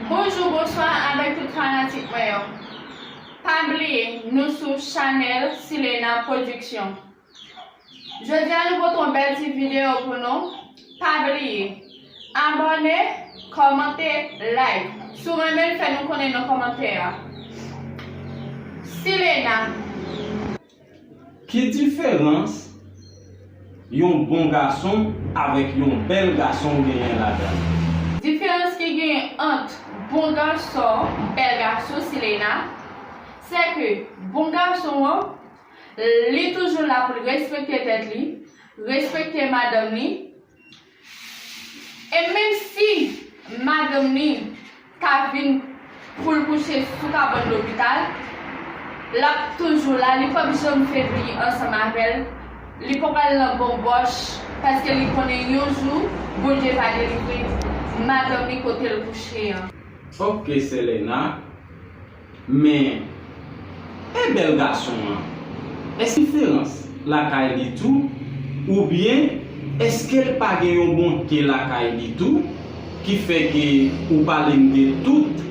Bonjou bonswa avèk tout fanatik mwen yo pa bliye nou sou chanèl silena production jodia nou pote yon bèl ti video pou nou pa bliye abòne kòmante like si w renmen l fè nou konnen nan kòmantè a silena. Ki diferans yon bon gason avèk yon bèl gason genyen ladann? Diferans ki genyen ant bon gason, bèl gason Sileina, se ke bon gason an, li toujou la pou l respekte tèt li, respekte madanm li, E menm si madanm li ta vin pou l kouche sou kabann lopital, l ap toujou la, li pap janm febli ansanm avè l, li pap al nan bonbòch, paske li konnen yon jou Bondye va delivre madanm li kote l kouche an. Fòk ke Selena Men e bèl gason an? Èske Ferans lakay li tou? Oubyen èske l pa gen yon bonte lakay li tou ki fè ke ou pale m de tout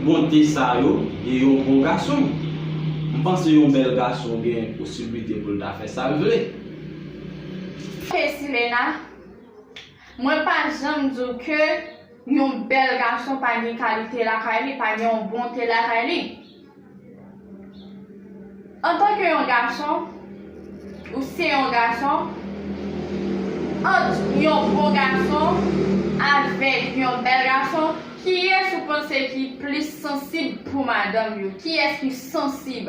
bonte sa yo de yon bon gason? M panse yon bèl gason gen posiblite pou l ta fè sa l vle. Feysi Lena. Mwen pa janm di w ke yon bèl gason pa gen kalite lakay li, pa gen yon bonte lakay li. Antanke yon gason, ou se yon gason, ant yon bon gason avèk yon bèl gason, kiyès ou panse ki plis sansib pou madanm yo? Kiyès ki sansib?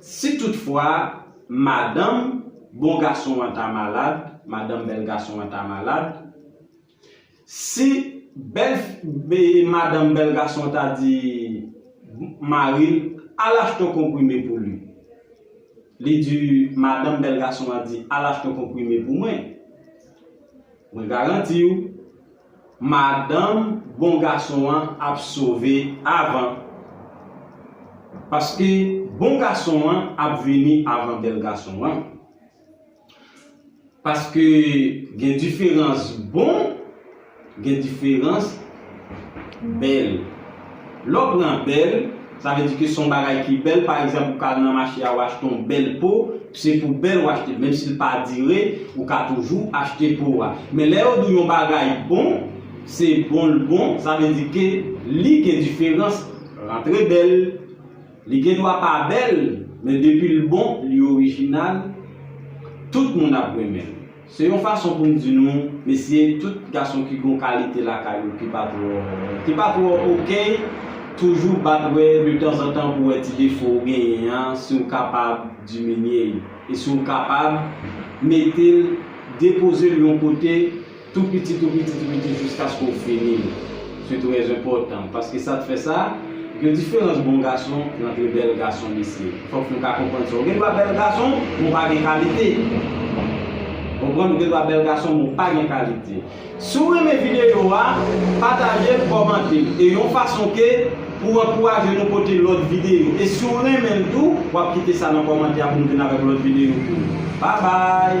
Si tout fwa madanm bon gason an ta malad, madanm bèl gason an ta malad, si bèl madanm bèl gason an ta di mari l al achte yon konprime pou li, li di madanm bèl gason an di al achte yon konprime pou mwen, mwen garanti w. Madanm bon gason an ap sove avan paske bon gason an ap vini avan bèl gason an paske gen diferans bon gen diferans bèl. Lè w pran bèl, sa vle di ke se yon bagay ki bèl, pa egzanp ou ka al nan mache a ou achte yon bèl po, se pou bèl ou achte l, menm si l pa dire, ou ka toujou achte po a. Men lè yo di w yon bagay bon, se bon l bon, sa vle di ke li gen diferans, rantre bèl, li gen dwa pa bèl, men depi l bon, li orijinal, tout moun ap renmen l. Se yon fason pou m di nou mesi tout gason ki gon kalite lakay yo ki pa twò ki pa twò ok toujou bat wè de tanzantan pou wè ti defo ou genyen an si w kapab diminye l e si w kapab mete l depoze l yon kote tou piti tou piti tou piti jiskaske w fini l. Se trè enpòtan, paske sa t fè sa, gen diferans bon gason rantre bèl gason mesye. Fòk nou ka konprann sa. Ou gen dwa bèl gason, men w pa gen kalite. Ou konprann? Ou gen dwa bèl gason, men w pa gen kalite. Si w renmen videyo a, pataje l, kòmante l. E yon fason ke pou w ankouraje nou pote lòt videyo. E si w renmen l tou, w ap kite sa nan kòmantè a pou nou vin avèk lòt videyo pou ou. Babay!